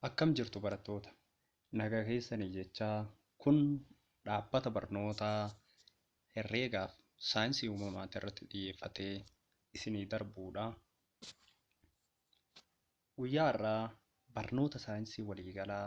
Akkam jirtu barattoota? Nagaa keessanii jechaa kun dhaabbata barnootaa herreegaaf saayinsii uumamaatii irratti xiyyeeffatee isinii darbuudha. Guyyaa har'aa barnoota saayinsii waliigalaa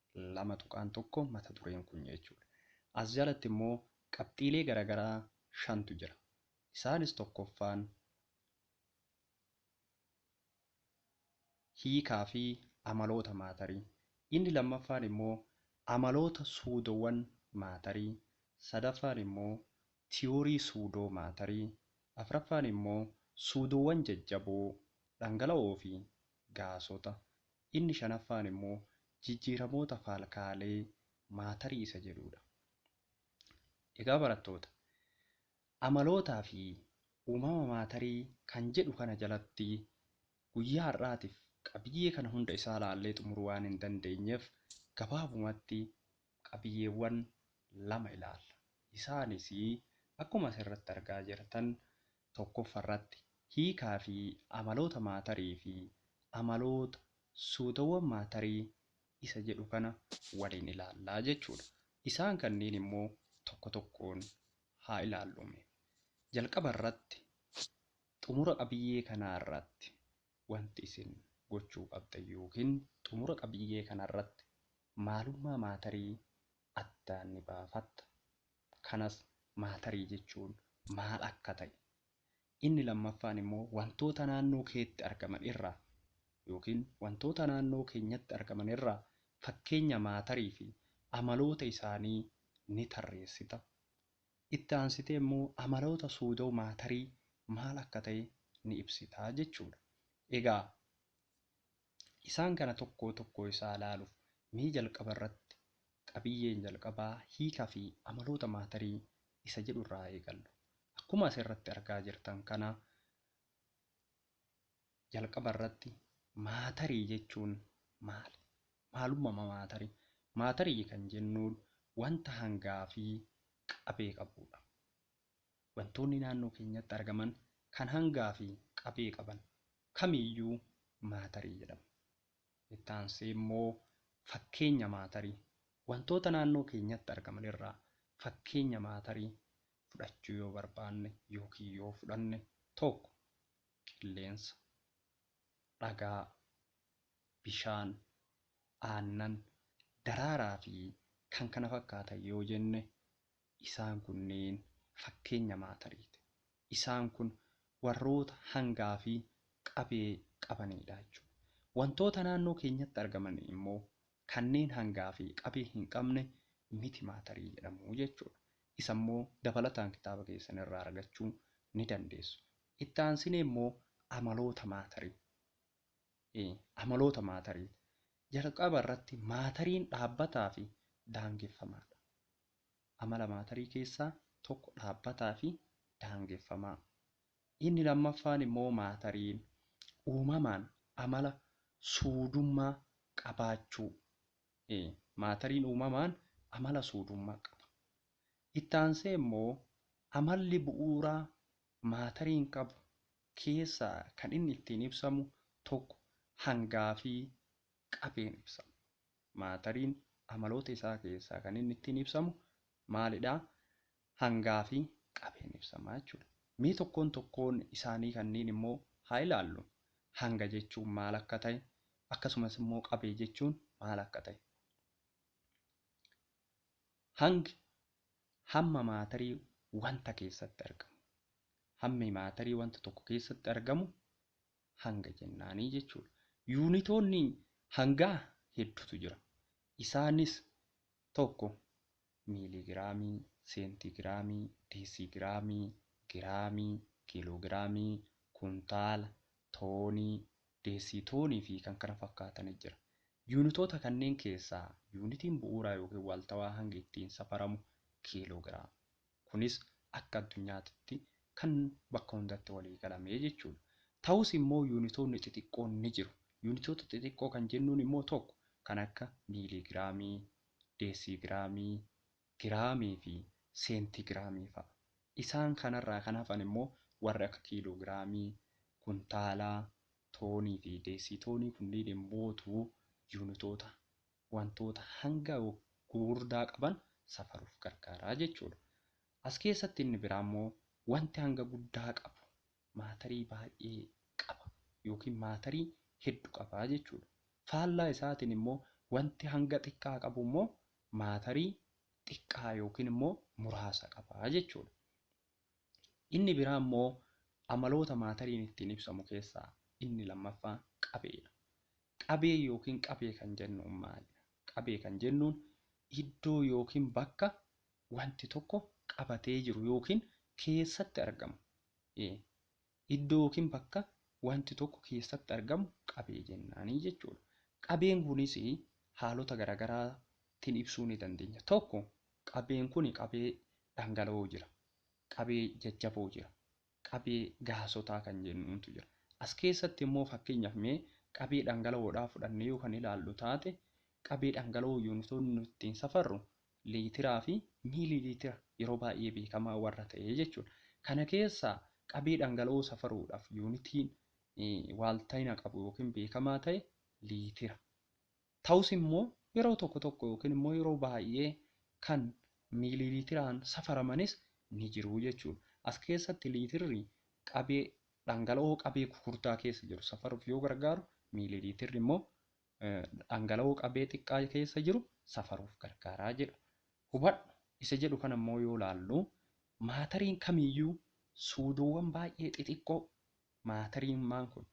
2.1 mata dureen kun jechuudha. As jalatti immoo qabxiilee garagaraa shantu jira. Isaanis tokkoffaan hiikaa fi amaloota maatarii, inni lammaffaan immoo amaloota suudoowwan maatarii, sadaffaan immoo tiyoorii suudoo maatarii, afraffaan immoo suudoowwan jajjaboo, dhangala'oo fi gaasota, Inni shanaffaan immoo jijjiiramoota faalkaalee maatarii isa jedhuudha. Egaa barattoota, amalootaa fi uumama maatarii kan jedhu kana jalatti guyyaa har'aatiif qabiyyee kana hunda isaa ilaallee xumuruu waan hin dandeenyeef gabaabumatti qabiyyeewwan lama ilaalla. Isaanis akkuma asirratti argaa jirtan tokkoffarratti hiikaa fi amaloota maatarii fi amaloota suutawwan maatarii isa jedhu kana waliin ilaalla jechuu dha. Isaan kanneen immoo tokko tokkoon haa ilaallu mee. Jalqaba irratti xumura qabiyyee kanaa irratti wanti isin gochuu qabdan yookiin xumura qabiyyee kana irratti maalummaa maatarii addaan ni baafatta. kanas maatarii jechuun maal akka ta'e, inni lammaffaan immoo wantoota naannoo keetti argaman irraa ykn wantoota naannoo keenyatti argaman irraa fakkeenya maatarii fi amaloota isaanii ni tarreessita. Itti aansitee immoo amaloota suudoo maatarii maal akka ta'e ni ibsita jechuudha. Egaa. Isaan kana tokkoo tokkoo isaa ilaaluuf mee jalqaba irratti qabiyyeen jalqabaa hiika fi amaloota maatarii isa jedhu irraa eegallu. Akkuma as irratti argaa jirtan kana jalqaba irratti maatarii jechuun maali? Maalummama maatarii? Maatarii kan jennuun wanta hangaa fi qabee qabuudha. wantoonni naannoo keenyatti argaman kan hangaa fi qabee qaban kamiiyyuu maatarii jedhamu. Itti aansee immoo fakkeenya maatarii, wantoota naannoo keenyatti argaman irraa fakkeenya maatarii fudhachuu yoo barbaanne ykn yoo fudhanne 1. Qilleensa, dhagaa, bishaan, aannan, daraaraa fi kkf yoo jenne Isaan kunneen fakkeenya maatariiti. Isaan kun warroota hangaa fi qabee qabaniidha jechuudha. Wantoota naannoo keenyatti argaman immoo kanneen hangaa fi qabee hin qabne miti maatarii jedhamu jechuudha. Isa immoo dabalataan kitaaba keessan irraa argachuu ni dandeessu. Itti aansinee immoo amaloota maatarii amaloota maatariiti. Jalqaba irratti maatariin dhaabbataa fi daangeffamaadha. Amala maatarii keessaa tokko dhaabbataa fi daangeffamaa. Inni lammaffaan immoo maatariin uumamaan amala suudummaa qabaachuu. Maatariin uumamaan amala suudummaa qaba. Itti aansee immoo amalli bu'uuraa maatariin qabu keessaa kan inni ittiin ibsamu tokko hangaa fi qabeen ibsama. Maatariin amaloota isaa keessaa kan inni ittiin ibsamu maalidha? Hangaa fi qabeen ibsama jechuudha. Mee tokkoon tokkoon isaanii kanniin immoo haa ilaallu. Hanga jechuun maal akka ta'e, akkasumas immoo qabee jechuun maal akka ta'e. Hangi hamma maatarii wanta keessatti argamu. Hammi maatarii wanta tokko keessatti argamu hanga jennaanii jechuudha. Yuunitoonni hangaa hedduutu jira. Isaanis tokko miiligiraamii, seentiigiraamii, deesiigiraamii, giraamii, kiiloogiraamii, kuntaala, toonii, deesiitoonii fi kan kana fakkaatani jira. Yuunitoota kanneen keessaa yuunitiin bu'uuraa yookiin waaltawaa hangi ittiin safaramu kiiloogiraama. Kunis akka addunyaatitti kan bakka hundatti walii galame jechuudha. Ta'us immoo yuunitoonni xixiqqoon ni jiru. Yuunitoota xixiqqoo kan jennuun immoo tokko kan akka miiliigiraamii, deesiigiraamii, giraamii fi seentiigiraamii fa'a. Isaan kanarraa kan hafan immoo warri akka kiiloogiraamii, kuntaalaa, toonii fi deesiitoonii kunniin immootu yuunitoota wantoota hanga gugurdaa qaban safaruuf gargaara jechuudha. As keessatti inni biraa immoo wanti hanga guddaa qabu maatarii baay'ee qaba yookiin maatarii heddu qaba jechuudha. Faallaa isaatiin immoo wanti hanga xiqqaa qabu immoo maatarii xiqqaa yookiin immoo muraasa qaba jechuudha. Inni biraa immoo amaloota maatariin ittiin ibsamu keessaa inni lammaffaan qabeedha. Qabee yookiin qabee kan jennuun maalidha? Qabee kan jennuun iddoo yookiin bakka wanti tokko qabatee jiru yookiin keessatti argamu iddoo yookiin bakka wanti tokko keessatti argamu qabee jennaanii jechuudha. Qabeen kunis haalota garaagaraatiin ibsuu ni dandeenya. Tokko qabeen kun qabee dhangala'oo jira, qabee jajjaboo jira, qabee gaasotaa kan jennuuntu jira. As keessatti immoo fakkeenyaaf mee qabee dhangala'oodhaa fudhannee yoo kan ilaallu taate qabee dhangala'oo yuunitoonni nuti ittiin safarru liitiraa fi miilii liitira yeroo baay'ee beekamaa warra ta'ee jechuudha. Kana keessaa qabee dhangala'oo safaruudhaaf yuunitiin waaltayina qabu yookiin beekamaa ta'e liitira. Ta'us immoo yeroo tokko tokko yookiin immoo yeroo baay'ee kan miilii liitiraan safaramanis ni jiru jechuudha. As keessatti liitirri qabee dhangala'oo qabee gugurdaa keessa jiru safaruuf yoo gargaaru miilii liitirri immoo dhangala'oo qabee xiqqaa keessa jiru safaruuf gargaara jedhu. Hubadhu isa jedhu kana immoo yoo ilaallu maatariin kamiyyuu suudoowwan baay'ee xixiqqoo maatariimmaan kun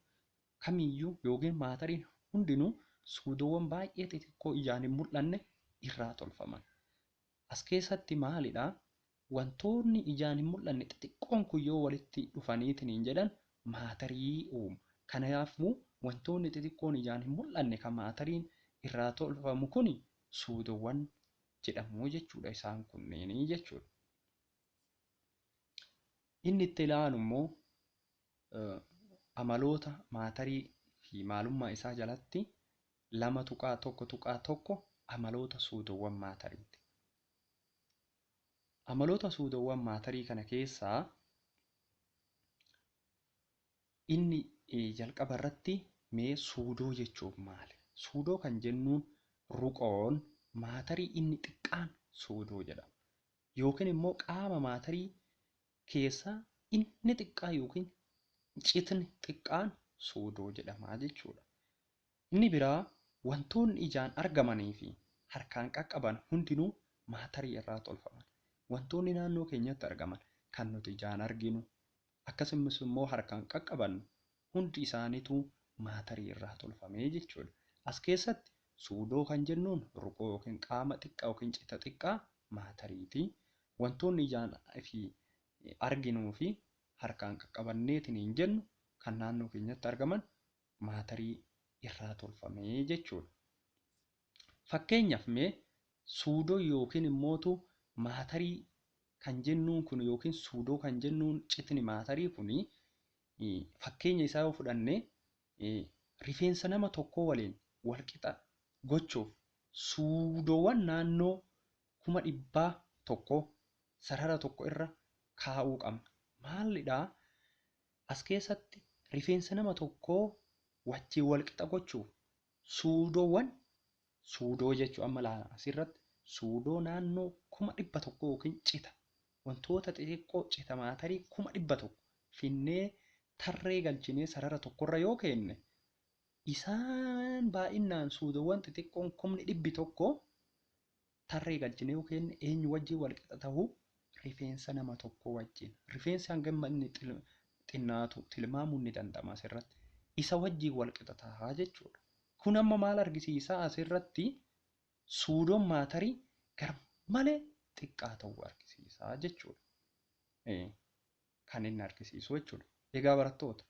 kamiyyuu yookiin maatariin hundinuu suudoowwan baay'ee xixiqqoo ijaan hin mul'anne irraa tolfaman. As keessatti maali dha? Wantoonni ijaan hin mul'anne xixiqqoon kun yoo walitti dhufanii tiniin jedhan maatarii uumu. Kanayaafmu wantoonni xixiqqoon ijaan hin mul'anne ka maatariin irraa tolfamu kuni suudowan jedhamu jechuu dha isaan kunniin jechuu dha. Inni itti ilaalu immoo amaloota maatarii fi maalummaa isaa jalatti 2.1.1 Amaloota suudoowwan maatariiti. Amaloota suudoowwan maatarii kana keessaa inni jalqaba irratti mee suudoo jechuun maali? Suudoo kan jennuun ruqoon maatarii inni xiqqaan suudoo jedhama. Yookiin immoo qaama maatarii keessaa inni xiqqaa yookiin citni xiqqaan suudoo jedhama jechuudha. Inni biraa wantoonni ijaan argamanii fi harkaan qaqqaban hundinuu maatarii irraa tolfaman. Wantoonni naannoo keenyatti argaman, kan nuti ijaan arginu, akkasumas immoo harkaan qaqqabannu hundi isaaniituu maatarii irraa tolfame jechuu dha. As keessatti suudoo kan jennuun ruqoo yookiin qaama xiqqaa yookiin cita xiqqaa maatarii ti. Wantoonni ijaan fi arginuu fi harkaan qaqqabanneetiniin jennu kan naannoo keenyatti argaman maatarii irraa tolfame jechuudha. Fakkeenyaaf mee suudoo yookiin immootu maatarii kan jennuun kun yookiin suudoo kan jennuun citni maatarii kun fakkeenya isaa yoo fudhanne rifeensa nama tokkoo waliin walqixa gochuuf suudoowwan naannoo kuma dhibbaa tokko sarara tokko irra kaa'uu qabna. Maalidhaa As keessatti rifeensa nama tokkoo wajjin wal qixa gochuuf suudoowwan, suudoo jechuun amma ilaala asirratti suudoo naannoo kuma dhibba tokkoo yookiin cita wantoota xixiqqoo cita maatarii kuma dhibba tokko finnee tarree galchinee sarara tokkorra yoo keenne isaan baay'inaan suudoowwan xixiqqoon kumni dhibbi tokko tarree galchine yoo keenne eenyu wajjin wal qixa ta'u? Rifeensa nama tokkoo wajjin. Rifeensi hanga inni xinnaatu tilmaamuun ni danda'ama asirratti. Isa wajjin wal qixa ta'a jechuudha. Kun amma maal argisiisa? Asirratti suudoon maatarii garmalee xiqqaa ta'uu argisiisa jechuudha. kan inni argisiisu jechuudha. Egaa barattoota,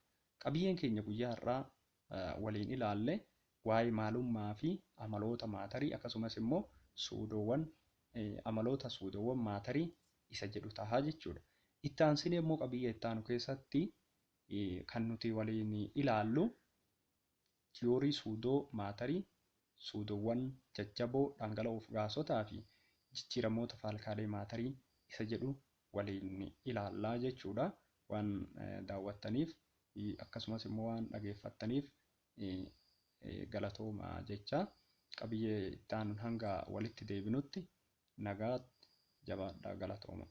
qabiyyeen keenya guyyaa har'aa waliin ilaalle waa'ee maalummaa fi amaloota maatarii akkasumas immoo suudoowwan amaloota suudoowwan maatarii isa jedhu taha jechuudha. Itti aansinee immoo qabiyyee itti aanu keessatti kan nuti waliin ilaallu Tiyoorii suudoo maatarii, suudoowwan jajjaboo dhangala'oof gaasotaa fi jijjiiramoota faalkaalee maatarii isa jedhu waliin ilaalla jechuu dha. Waan daawwattaniif akkasumas immoo waan dhageeffattaniif galatoomaa jechaa qabiyyee itti aanuun hanga walitti deebinutti nagaatti jabaadhaa galatoomaa.